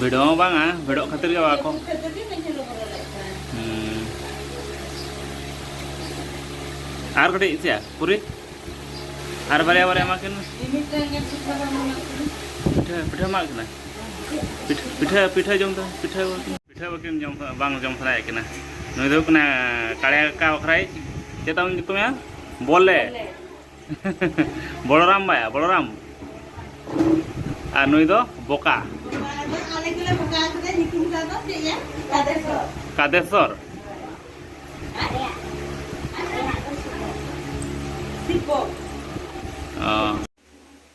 ᱵᱷᱤᱲᱚ ᱦᱚᱸ ᱵᱟᱝᱟ ᱵᱷᱤᱲᱚᱜ ᱠᱷᱟᱹᱛᱤᱨ ᱜᱮ ᱵᱟᱠᱚ ᱟᱨ ᱠᱟᱹᱴᱤᱡ ᱪᱮᱫ ᱯᱩᱨᱤ ᱟᱨ ᱵᱟᱨᱭᱟ ᱵᱟᱨᱭᱟ ᱮᱢᱟ ᱠᱤᱱ ᱯᱤᱴᱷᱟᱹ ᱯᱤᱴᱷᱟᱹ ᱮᱢᱟ ᱠᱤᱱᱟ ᱯᱤᱴᱷᱟᱹ ᱯᱤᱴᱷᱟᱹ ᱡᱚᱢ ᱫᱚ ᱯᱤᱴᱷᱟᱹ ᱯᱤᱴᱷᱟᱹ ᱵᱟᱹᱠᱤᱱ ᱡᱚᱢ ᱵᱟᱝ ᱡᱚᱢ ᱥᱟᱱᱟᱭᱮᱫ ᱠᱤᱱᱟ ᱱᱩᱭ ᱫᱚ ᱦᱩᱭᱩᱜ ᱠᱟᱱᱟ ᱠᱟᱲᱮ ᱠᱟᱠᱟ ᱵᱟᱠᱷᱨᱟᱭ ᱪᱮᱫ ᱛᱟᱢ ᱧᱩᱛᱩᱢ ᱭᱟ ᱵᱚᱞᱮ ᱵᱚᱲᱚᱨᱟᱢ ᱵᱟᱭᱟ ᱵᱚᱲᱚᱨᱟᱢ ᱟᱨ ᱱᱩᱭ ᱫᱚ ᱵᱚᱠᱟ ᱠᱟᱫᱮᱥᱚᱨ ᱚ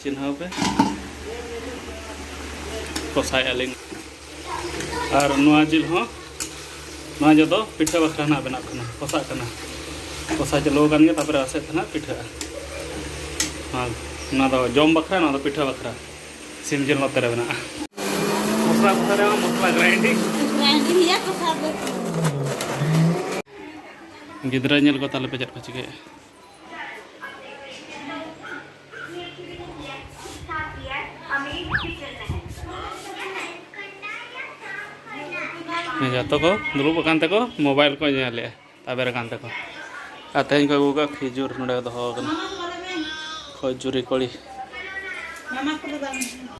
ᱪᱤᱱᱦᱟᱹᱣ ᱯᱮ ᱠᱚᱥᱟᱭ ᱟᱹᱞᱤᱧ ᱟᱨ ᱱᱚᱣᱟ ᱡᱤᱞ ᱦᱚᱸ ᱱᱚᱣᱟ ᱡᱚᱫᱚ ᱯᱤᱴᱷᱟᱹ ᱵᱟᱠᱷᱨᱟ ᱱᱟᱜ ᱵᱮᱱᱟᱜ ᱠᱟᱱᱟ ᱠᱚᱥᱟᱜ ᱠᱟᱱᱟ ᱠᱚᱥᱟ ᱪᱟᱹᱞᱩ ᱟᱠᱟᱱ ᱜᱮᱭᱟ ᱛᱟᱯᱚᱨᱮ ᱟᱥᱮᱫ ᱛᱮ ᱱᱟᱜ ᱯᱤᱴᱷᱟᱹᱜᱼᱟ ᱟᱨ ᱱᱚᱣᱟ ᱫᱚ ᱡᱚᱢ ᱵᱟᱠᱷᱨᱟ ᱱᱚᱣᱟ ᱫᱚ ᱯᱤᱴᱷᱟᱹ ᱵᱟᱠᱷᱨᱟ ᱥᱤᱢ ᱡᱤᱞ ᱱᱚᱛᱮ ᱨᱮ ᱢᱮᱱᱟᱜᱼᱟ ᱢᱚᱥᱞᱟ ᱠᱚᱥᱟ ᱨᱮ ᱢᱚᱥᱞᱟ ᱜᱨᱟᱭᱤᱱᱰᱤᱝ ᱜᱤᱫᱽᱨᱟᱹ ᱧᱮᱞ ᱠᱚ ᱛᱟᱦᱚᱞᱮ ᱯᱮ ᱪᱮᱫ ᱠᱚ ᱪᱤᱠᱟᱹᱭᱮᱫᱼᱟ ᱡᱚᱛᱚ ᱠᱚ ᱫᱩᱲᱩᱵ ᱟᱠᱟᱱ ᱛᱮᱠᱚ ᱢᱳᱵᱟᱭᱤᱞ ᱠᱚ ᱧᱮᱞᱮᱜᱼᱟ ᱛᱟᱵᱮᱨ ᱟᱠᱟᱱ ᱛᱮᱠᱚ ᱟᱨ ᱛᱮᱦᱮᱧ ᱠᱚ ᱟᱹᱜᱩ ᱠᱟᱜ ᱠᱷᱤᱡᱩᱨ ᱱᱚᱰᱮ ᱫᱚᱦᱚ ᱟᱠᱟᱱᱟ ᱠᱷᱚᱡᱩᱨᱤ ᱠᱚᱲᱤ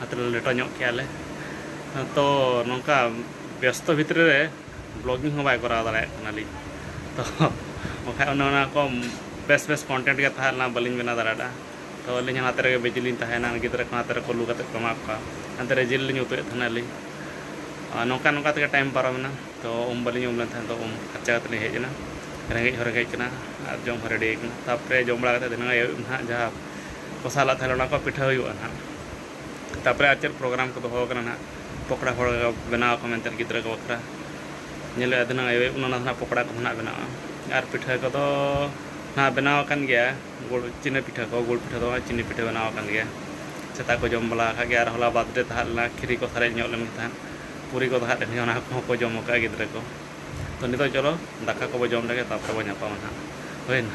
ᱚᱱᱟᱛᱮ ᱞᱮᱴᱚ ᱧᱚᱜ ᱠᱮᱜᱼᱟ ᱞᱮ ᱛᱚ ᱱᱚᱝᱠᱟ ᱵᱮᱥᱛᱚ ᱵᱷᱤᱛᱨᱤ ᱨᱮ ᱵᱞᱚᱜᱤᱝ ᱦᱚᱸ ᱵᱟᱭ ᱠᱚᱨᱟᱣ ᱫᱟᱲᱮᱭᱟᱜ ᱠᱟᱱᱟᱞᱤᱧ ᱛᱚ ᱵᱟᱠᱷᱟᱡ ᱚᱱᱮ ᱚᱱᱟ ᱠᱚ ᱵᱮᱥ ᱵᱮᱥ ᱠᱚᱱᱴᱮᱱᱴ ᱜᱮ ᱛᱟᱦᱮᱸ ᱞᱮᱱᱟ ᱵᱟᱹᱞᱤᱧ ᱵᱮᱱᱟᱣ ᱫᱟᱲᱮᱭᱟᱫᱟ ᱛᱚ ᱟᱹᱞᱤᱧ ᱦᱚᱸ ᱚᱱᱟᱛᱮ ᱨᱮᱜᱮ ᱵᱤᱡᱤ ᱞᱤᱧ ᱛᱟᱦᱮᱭᱮᱱᱟ ᱜᱤᱫᱽᱨᱟᱹ ᱠᱚ ᱚᱱᱟᱛᱮ ᱨᱮ ᱠᱩᱞᱩ ᱠᱟᱛᱮ ᱠᱚ ᱮᱢᱟᱜ ᱠᱚᱣᱟ ᱚᱱᱛᱮ ᱨᱮ ᱡᱤᱞ ᱞᱤᱧ ᱩᱛᱩᱭᱮᱫ ᱛᱟᱦᱮᱱᱟᱞᱤᱧ ᱟᱨ ᱱᱚᱝᱠᱟ ᱱᱚᱝᱠᱟ ᱛᱮᱜᱮ ᱴᱟᱭᱤᱢ ᱯᱟᱨᱚᱢᱮᱱᱟ ᱛᱚ ᱩᱢ ᱵᱟᱹᱞᱤᱧ ᱩᱢ ᱞᱮᱱ ᱛᱟᱦᱮᱸᱫ ᱛᱚ ᱩᱢ ᱯᱷᱟᱨᱪᱟ ᱠᱟᱛᱮ ᱞᱤᱧ ᱦᱮᱡ ᱮᱱᱟ ᱨᱮᱸᱜᱮᱡ ᱦᱚᱸ ᱨᱮᱸᱜᱮᱡ ᱠᱟᱱᱟ ᱟᱨ ᱡᱚᱢ ᱦᱚᱸ ᱨᱮᱰᱤ ᱠᱟᱱᱟ ᱛᱟᱨᱯᱚᱨᱮ ᱡᱚᱢ ᱵᱟᱲᱟ ᱠᱟᱛᱮ ᱫᱷᱤᱱᱟᱹᱱ ᱟᱹᱭᱩᱵ ᱱᱟᱦᱟᱜ ᱡᱟᱦᱟᱸ ᱠᱚᱥᱟᱣ ᱞᱟᱜ ᱛᱟᱦᱚᱞᱮ ᱚᱱᱟ ᱠᱚ ᱯᱤᱴᱷᱟᱹ ᱦᱩᱭᱩᱜᱼᱟ ᱱᱟᱦᱟᱜ ᱛᱟᱯᱚᱨᱮ ᱟᱨ ᱪᱮᱫ ᱯᱨᱳᱜᱨᱟᱢ ᱠᱚ ᱫᱚᱦᱚ ᱟᱠᱟᱱᱟ ᱱᱟᱦᱟᱜ ᱯᱚᱠᱚᱲᱟ ᱦᱚᱲ ᱵᱮᱱᱟᱣ ᱟᱠᱚ ᱢᱮᱱᱛᱮ ᱜᱤᱫᱽᱨᱟᱹ ᱠᱚ ᱵᱟᱠᱷᱨᱟ ᱧᱮᱞᱚᱜᱼᱟ ᱫᱷᱤᱱᱟᱹᱝ ᱟᱭᱩᱵ ᱟᱭᱩᱵ ᱚᱱᱟ ᱱᱟᱦᱟᱜ ᱯᱚᱠᱚᱲᱟ ᱠᱚ ᱱᱟᱦᱟᱜ ᱵᱮᱱᱟᱜᱼᱟ ᱟᱨ ᱯᱤᱴᱷᱟᱹ ᱠᱚᱫᱚ ᱱᱟᱦᱟᱜ ᱵᱮᱱᱟᱣ ᱟᱠᱟᱱ ᱜᱮᱭᱟ ᱜᱩᱲ ᱪᱤᱱᱤ ᱯᱤᱴᱷᱟᱹ ᱠᱚ ᱜᱩᱲ ᱯᱤᱴᱷᱟᱹ ᱫᱚ ᱵᱟᱝ ᱪᱤᱱᱤ ᱯᱤᱴᱷᱟᱹ ᱵᱮᱱᱟᱣ ᱟᱠᱟᱱ ᱜᱮᱭᱟ ᱥᱮᱛᱟ ᱠᱚ ᱡᱚᱢ ᱵᱟᱲᱟ ᱟᱠᱟᱫ ᱜᱮᱭᱟ ᱟᱨ ᱦᱚᱞᱟ ᱵᱟᱨᱛᱷ ᱰᱮᱹ ᱛᱟᱦᱮᱸ ᱞᱮᱱᱟ ᱠᱷᱤᱨᱤ ᱠᱚ ᱥᱟᱨᱮᱡ ᱧᱚᱜ ᱞᱮᱱ ᱛᱟᱦᱮᱸᱫ ᱯᱩᱨᱤ ᱠᱚ ᱛᱟᱦᱮᱸ ᱞᱮᱱ ᱜᱮᱭᱟ ᱚᱱᱟ ᱠᱚᱦᱚᱸ ᱠᱚ ᱡᱚᱢ ᱟᱠᱟᱫᱼᱟ ᱜᱤᱫᱽᱨᱟᱹ ᱠᱚ ᱛᱳ ᱱᱤᱛᱚᱜ ᱪᱚᱞᱚ ᱫᱟᱠᱟ ᱠᱚᱵᱚᱱ ᱡᱚᱢ ᱞᱮᱜᱮ ᱛᱟᱯᱚᱨᱮ ᱵᱚᱱ ᱧᱟᱯᱟᱢᱟ ᱱᱟᱦᱟᱜ ᱦᱩᱭᱮᱱᱟ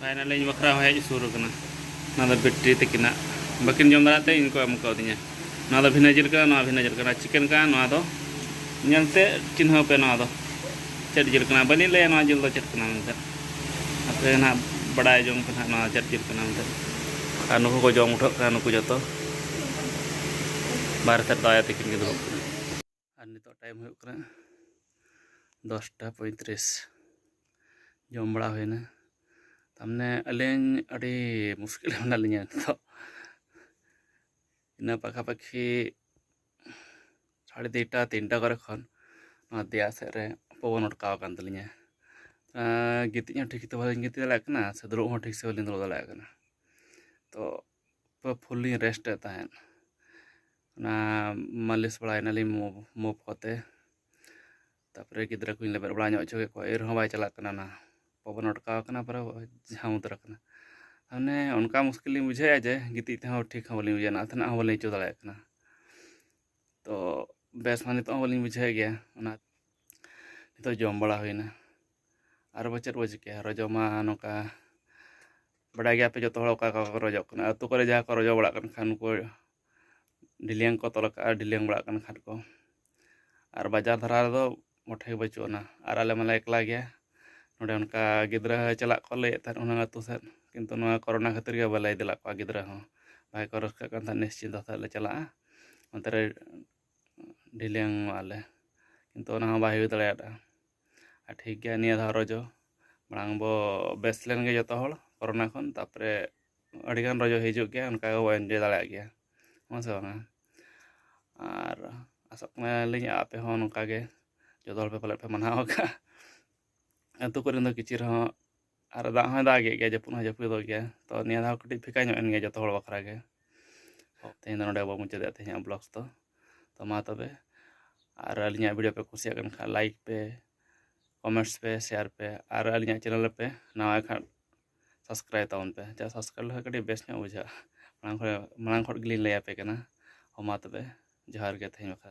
ᱯᱷᱟᱭᱱᱟᱞᱤ ᱤᱧ ᱵᱟᱠᱷᱨᱟ ᱦᱚᱸ ᱦᱮᱡ ᱥᱩᱨ ᱟᱠᱟᱱᱟ ᱚᱱᱟ ᱫᱚ ᱵᱤᱴᱨᱤ ᱛᱟᱹᱠᱤᱱᱟᱜ ᱵᱟᱹᱠᱤᱱ ᱡᱚᱢ ᱫᱟᱲᱮᱭᱟᱜ ᱛᱮ ᱤᱧ ᱠᱚ ᱮᱢ ᱠᱟᱣᱫᱤᱧᱟ ᱱᱚᱣᱟ ᱫᱚ ᱵᱷᱤᱱᱟᱹ ᱡᱤᱞ ᱠᱟᱱᱟ ᱱᱚᱣᱟ ᱵᱷᱤᱱᱟᱹ ᱡᱤᱞ ᱠᱟᱱᱟ ᱪᱤᱠᱮᱱ ᱠᱟᱱᱟ ᱱᱚᱣᱟ ᱫᱚ ᱧᱮᱞᱛᱮ ᱪᱤᱱᱦᱟᱹᱣ ᱯᱮ ᱱᱚᱣᱟ ᱫᱚ ᱪᱮᱫ ᱡᱤᱞ ᱠᱟᱱᱟ ᱵᱟᱹᱞᱤᱧ ᱞᱟᱹᱭᱟ ᱱᱚᱣᱟ ᱡᱤᱞ ᱫᱚ ᱪᱮᱫ ᱠᱟᱱᱟ ᱢᱮᱱᱛᱮ ᱟᱯᱮ ᱱᱟᱦᱟᱜ ᱵᱟᱰᱟᱭ ᱡᱚᱝ ᱯᱮ ᱱᱟᱦᱟᱜ ᱱᱚᱣᱟ ᱪᱮᱫ ᱡᱤᱞ ᱠᱟᱱᱟ ᱢᱮᱱᱛᱮ ᱟᱨ ᱱᱩᱠᱩ ᱠᱚ ᱡᱚᱢ ᱩᱴᱷᱟᱹᱜ ᱠᱟᱱᱟ ᱱᱩᱠᱩ ᱡᱚᱛᱚ ᱵᱟᱨᱦᱮ ᱥᱮᱫ ᱫᱚ ᱟᱭᱳ ᱛᱟᱹᱠᱤᱱ ᱜᱮ ᱫᱩᱲᱩᱵ ᱠᱟᱱᱟ ᱟᱨ ᱱᱤᱛᱚᱜ ᱴᱟᱭᱤᱢ ᱦᱩᱭᱩᱜ ᱠᱟᱱᱟ ᱫᱚᱥᱴᱟ ᱯᱚᱸᱭᱛᱨᱤᱥ ᱡᱚᱢ ᱵᱟᱲᱟ ᱦᱩᱭᱱᱟ ᱛᱟᱨᱢᱟᱱᱮ ᱟᱹᱞᱤᱧ ᱟᱹᱰᱤ ᱢᱩᱥᱠᱤᱞ ᱨᱮ ᱢᱮᱱᱟᱜ ᱞᱤᱧᱟ ᱱᱤᱛᱚᱜ ᱤᱱᱟᱹ ᱯᱟᱠᱷᱟᱯᱟᱠᱷᱤ ᱥᱟᱲᱮ ᱫᱩᱭᱴᱟ ᱛᱤᱱᱴᱟ ᱠᱚᱨᱮ ᱠᱷᱚᱱ ᱱᱚᱣᱟ ᱫᱮᱭᱟ ᱥᱮᱫ ᱨᱮ ᱯᱚᱵᱚᱱ ᱚᱴᱠᱟᱣ ᱟᱠᱟᱱ ᱛᱟᱹᱞᱤᱧᱟ ᱜᱤᱛᱤᱡ ᱦᱚᱸ ᱴᱷᱤᱠ ᱛᱮ ᱵᱟᱹᱞᱤᱧ ᱜᱤᱛᱤᱡ ᱫᱟᱲᱮᱭᱟᱜ ᱠᱟᱱᱟ ᱥᱮ ᱫᱩᱲᱩᱵ ᱦᱚᱸ ᱴᱷᱤᱠ ᱥᱮ ᱵᱟᱹᱞᱤᱧ ᱫᱩᱲᱩᱵ ᱫᱟᱲᱮᱭᱟᱜ ᱠᱟᱱᱟ ᱛᱚ ᱯᱩᱨᱟᱹ ᱯᱷᱩᱞ ᱞᱤᱧ ᱨᱮᱥᱴ ᱮᱫ ᱛᱟᱦᱮᱸᱫ ᱚᱱᱟ ᱢᱟᱹᱞᱤᱥ ᱵᱟᱲᱟᱭᱮᱱᱟᱞᱤᱧ ᱢᱩᱵᱷ ᱢᱩᱵᱷ ᱠᱚᱛᱮ ᱛᱟᱨᱯᱚᱨᱮ ᱜᱤᱫᱽᱨᱟᱹ ᱠᱚᱧ ᱞᱮᱵᱮᱫ ᱵᱟᱲᱟ ᱧᱚᱜ ᱦᱚᱪᱚ ᱠᱮᱫ ᱠᱚᱣᱟ ᱮᱱ ᱨᱮᱦᱚᱸ ᱵᱟᱭ ᱪᱟᱞᱟᱜ ᱠᱟᱱᱟ ᱚᱱᱟ ᱯᱚᱵᱚᱱ ᱚᱴᱠᱟᱣ ᱠᱟᱱᱟ ᱯᱩᱨᱟᱹ ᱡᱷᱟᱢ ᱩᱛᱟᱹᱨ ᱟᱠᱟᱱᱟ ᱢᱟᱱᱮ ᱚᱱᱠᱟ ᱢᱩᱥᱠᱤᱞ ᱞᱤᱧ ᱵᱩᱡᱷᱟᱹᱣᱮᱫᱼᱟ ᱡᱮ ᱜᱤᱛᱤᱡ ᱛᱮᱦᱚᱸ ᱴᱷᱤᱠ ᱦᱚᱸ ᱵᱟᱹᱞᱤᱧ ᱵᱩᱡᱷᱟᱹᱣᱮᱫᱼᱟ ᱱᱟᱥᱮᱱᱟᱜ ᱦᱚᱸ ᱵᱟᱹᱞᱤᱧ ᱟᱹᱭᱠᱟᱹᱣ ᱫᱟᱲᱮᱭᱟᱜ ᱠᱟᱱᱟ ᱛᱚ ᱵᱮᱥ ᱢᱟ ᱱᱤᱛᱚᱜ ᱦᱚᱸ ᱵᱟᱹᱞᱤᱧ ᱵᱩᱡᱷᱟᱹᱣᱮᱫ ᱜᱮᱭᱟ ᱚᱱᱟ ᱱᱤᱛᱚᱜ ᱡᱚᱢ ᱵᱟᱲᱟ ᱦᱩᱭᱱᱟ ᱟᱨ ᱵᱚ ᱪᱮᱫ ᱵᱚ ᱪᱤᱠᱟᱹᱭᱟ ᱟᱨᱚ ᱡᱚᱢᱟ ᱱᱚᱝᱠᱟ ᱵᱟᱰᱟᱭ ᱜᱮᱭᱟᱯᱮ ᱡᱚᱛᱚ ᱦᱚᱲ ᱚᱠᱟ ᱚᱠᱟ ᱠᱚ ᱨᱚᱡᱚᱜ ᱠᱟᱱᱟ ᱟᱹᱛᱩ ᱠᱚᱨᱮ ᱡᱟᱦᱟᱸ ᱠᱚ ᱨᱚᱡᱚ ᱵᱟᱲᱟᱜ ᱠᱟᱱ ᱠᱷᱟᱱ ᱩᱱᱠᱩ ᱰᱤᱞᱤᱭᱟᱝ ᱠᱚ ᱛᱚᱞ ᱠᱟᱜᱼᱟ ᱰᱤᱞᱤᱭᱟᱝ ᱵᱟᱲᱟᱜ ᱠᱟᱱ ᱠᱷᱟᱱ ᱠᱚ ᱟᱨ ᱵᱟᱡᱟᱨ ᱫᱷᱟᱨᱟ ᱨᱮᱫᱚ ᱢᱚᱴᱷᱮ ᱜᱮ ᱵᱟᱹᱪᱩᱜ ᱟᱱᱟ ᱟᱨ ᱟᱞᱮ ᱢᱟᱞᱮ ᱮᱠᱞᱟ ᱜᱮᱭᱟ ᱱᱚᱰᱮ ᱚᱱᱠᱟ ᱜᱤᱫᱽᱨᱟᱹ ᱪᱟᱞᱟᱜ ᱠᱚ ᱞᱟᱹᱭᱮᱫ ᱛᱟᱦᱮᱸᱫ ᱚᱱᱟ ᱟᱹᱛᱩ ᱥᱮᱫ ᱠᱤᱱᱛᱩ ᱱᱚᱣᱟ ᱠᱚᱨᱳᱱᱟ ᱠᱷᱟᱹᱛᱤᱨ ᱜᱮ ᱵᱟᱞᱮ ᱤᱫᱤ ᱞᱮᱫ ᱠᱚᱣᱟ ᱜᱤᱫᱽᱨᱟᱹ ᱦᱚᱸ ᱵᱟᱠᱷᱟᱡ ᱠᱚ ᱨᱟᱹᱥᱠᱟᱹᱜ ᱠᱟᱱ ᱛᱟᱦᱮᱸᱫ ᱱᱤᱥᱪᱤᱱᱛᱚ ᱟᱛᱮᱫ ᱞᱮ ᱪᱟᱞᱟᱜᱼᱟ ᱚᱱᱛᱮ ᱨᱮ ᱰᱤᱞᱤᱭᱟᱝᱚᱜᱼᱟ ᱞᱮ ᱠᱤᱱᱛᱩ ᱚᱱᱟ ᱦᱚᱸ ᱵᱟᱭ ᱦᱩᱭ ᱫᱟᱲᱮᱭᱟᱫᱟ ᱟᱨ ᱴᱷᱤᱠ ᱜᱮᱭᱟ ᱱᱤᱭᱟᱹ ᱫᱷᱟᱣ ᱨᱚᱡᱚ ᱢᱟᱲᱟᱝ ᱵᱚ ᱵᱮᱥ ᱞᱮᱱ ᱜᱮ ᱡᱚᱛᱚ ᱦᱚᱲ ᱠᱚᱨᱳᱱᱟ ᱠᱷᱚᱱ ᱛᱟᱨᱯᱚᱨᱮ ᱟᱹᱰᱤ ᱜᱟᱱ ᱨᱚᱡᱚ ᱦᱤᱡᱩᱜ ᱜᱮᱭᱟ ᱚᱱᱠᱟ ᱜᱮᱵᱚ ᱤᱱᱡᱚᱭ ᱫᱟᱲᱮᱭᱟᱜ ᱜᱮᱭᱟ ᱦᱮᱸ ᱥᱮ ᱵᱟᱝᱟ ᱟᱨ ᱟᱥᱚᱜ ᱠᱟᱱᱟᱞᱤᱧ ᱟᱯᱮ ᱦᱚᱸ ᱱᱚᱝᱠᱟ ᱜᱮ ᱡᱚᱛᱚ ᱦᱚᱲ ᱯᱟᱞᱮᱫ ᱯᱮ ᱢᱟᱱᱟᱣ ᱟᱠᱟᱫᱼᱟ ᱟᱹᱛᱩ ᱠᱚᱨᱮᱱ ᱫᱚ ᱠᱤᱪᱷᱩ ᱨᱮᱦᱚᱸ ᱟᱨ ᱫᱟᱜ ᱦᱚᱸᱭ ᱫᱟᱜ ᱮᱫ ᱜᱮᱭᱟ ᱡᱟᱹᱯᱩᱫ ᱦᱚᱸ ᱡᱟᱹᱯᱩᱫᱚᱜ ᱜᱮᱭᱟ ᱛᱚ ᱱᱤᱭᱟᱹ ᱫᱷᱟᱣ ᱠᱟᱹᱴᱤᱡ ᱯᱷᱮᱠᱟ ᱧᱚᱜ ᱮᱱ ᱜᱮᱭᱟ ᱡᱚᱛᱚ ᱦᱚᱲ ᱵᱟᱠᱷᱨᱟ ᱜᱮ ᱛᱮᱦᱮᱧ ᱫᱚ ᱱᱚᱰᱮ ᱵᱚ ᱢᱩᱪᱟᱹᱫᱮᱫ ᱛᱮᱦᱮᱧᱟᱜ ᱵᱞᱚᱜᱥ ᱫᱚ ᱛᱚ ᱢᱟ ᱛᱚᱵᱮ ᱟᱨ ᱟᱹᱞᱤᱧᱟᱜ ᱵᱷᱤᱰᱤᱭᱳ ᱯᱮ ᱠᱩᱥᱤᱭᱟᱜ ᱠᱟᱱ ᱠᱷᱟᱱ ᱞᱟᱭᱤᱠ ᱯᱮ ᱠᱚᱢᱮᱱᱴᱥ ᱯᱮ ᱥᱮᱭᱟᱨ ᱯᱮ ᱟᱨ ᱟᱹᱞᱤᱧᱟᱜ ᱪᱮᱱᱮᱞ ᱯᱮ ᱱᱟᱣᱟ ᱠᱷᱟᱱ ᱥᱟᱵᱥᱠᱨᱟᱭᱤᱵᱽ ᱛᱟᱵᱚᱱ ᱯᱮ ᱡᱟ ᱥᱟᱵᱥᱠᱨᱟᱭᱤᱵᱽ ᱞᱮᱠᱷᱟᱱ ᱠᱟᱹᱴᱤᱡ ᱵᱮᱥ ᱧᱚᱜ ᱵᱩᱡᱷᱟᱹᱜᱼᱟ ᱢᱟᱲᱟᱝ ᱠᱷᱚᱱ ᱢᱟᱲᱟᱝ ᱠᱷᱚᱱ ᱜᱮᱞᱤᱧ ᱞᱟᱹᱭᱟᱯᱮ ᱠᱟᱱᱟ ᱦᱚᱸ ᱢᱟ ᱛᱚᱵᱮ ᱡᱚᱦᱟᱨ ᱜᱮ ᱛᱮᱦᱮᱧ ᱵᱟᱠᱷᱨᱟ